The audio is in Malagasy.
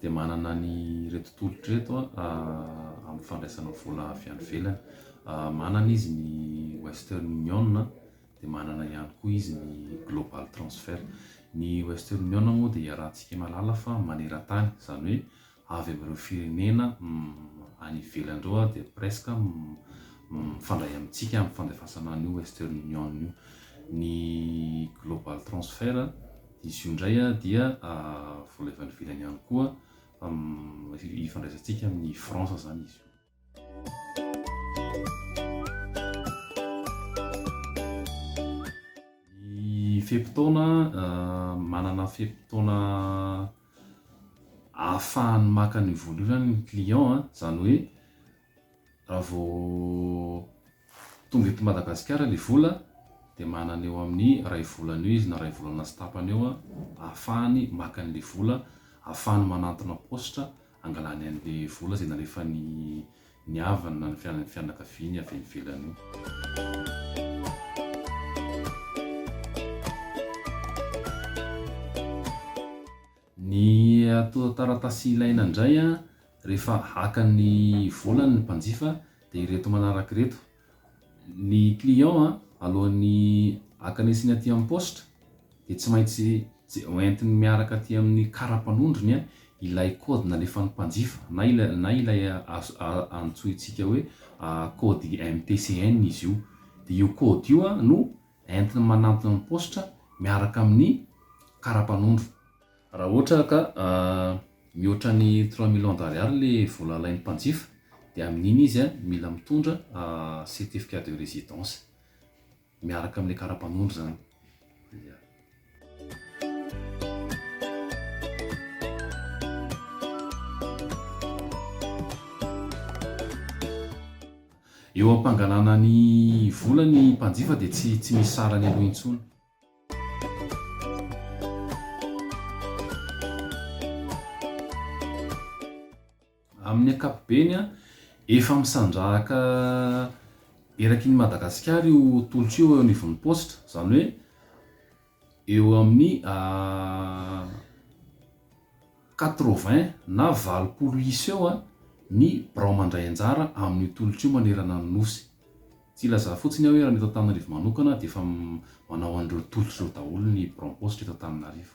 dia manana an'ireto tolotra ireto amin'ny fandraisana vola avy any ivelany. Manana izy ny Western Union, dia manana ihany koa izy ny Global Transfer. Ny Western Union moa dia iarahantsika mahalala fa maneran-tany, izany hoe avy amin'ireo firenena any ivelany ireo dia presque mifandray amintsika amin'ny fandefasana an'io Western Union io. Ny Global Transfer Izy io indray dia vola avy any ivelany ihany koa ifandraisantsika amin'i France izany izy io. Ny fe-potoana, manana fe-potoana ahafahany maka an'io vola io izany ny client, izany hoe. Raha vao tonga eto Madagasikara ilay vola dia manana eo amin'ny iray volana eo izy na iray volana sy tapany eo ahafahany maka an'ilay vola, ahafahany manantona paositra hangalany an'ilay vola izay nalefan'ny havany na ny fianakaviany avy any ivelany io. Ny ato taratasy ilaina indray rehefa haka ny volany ny mpanjifa dia ireto manaraka ireto, ny client alohan'ny akanesiny aty amin'ny paositra dia tsy maintsy hoentiny miaraka aty amin'ny kara-panondrony ilay kaody nalefan'ny mpanjifa na ilay na ilay antsointsika hoe kaody MTCN izy io, dia io kaody io no Entiny manantona ny paositra miaraka amin'ny karapanondro. Raha ohatra ka mihoatra ny trois millions d'ariary le vola alain'ny mpanjifa dia amin'iny izy mila mitondra certificat de residence miaraka amin'ilay karapanondro izany. Eo am-pangalana ny vola ny mpanjifa dia tsy tsy misy sarany aloha intsony. Amin'ny ankapobeny, efa misandrahaka eraky ny Madagasikara io tolotra io eo anivon'ny paositra, izany hoe, Eo amin'ny quatre-vingts na valopolo isa eo ny birao mandray anjara amin'io tolotra io manerana ny Nosy. Tsy hilazà fotsiny aho hoe raha ny eto Antananarivo manokana dia efa manao an'ireo tolotra ireo daholo ny biraom-paositra eto Antananarivo.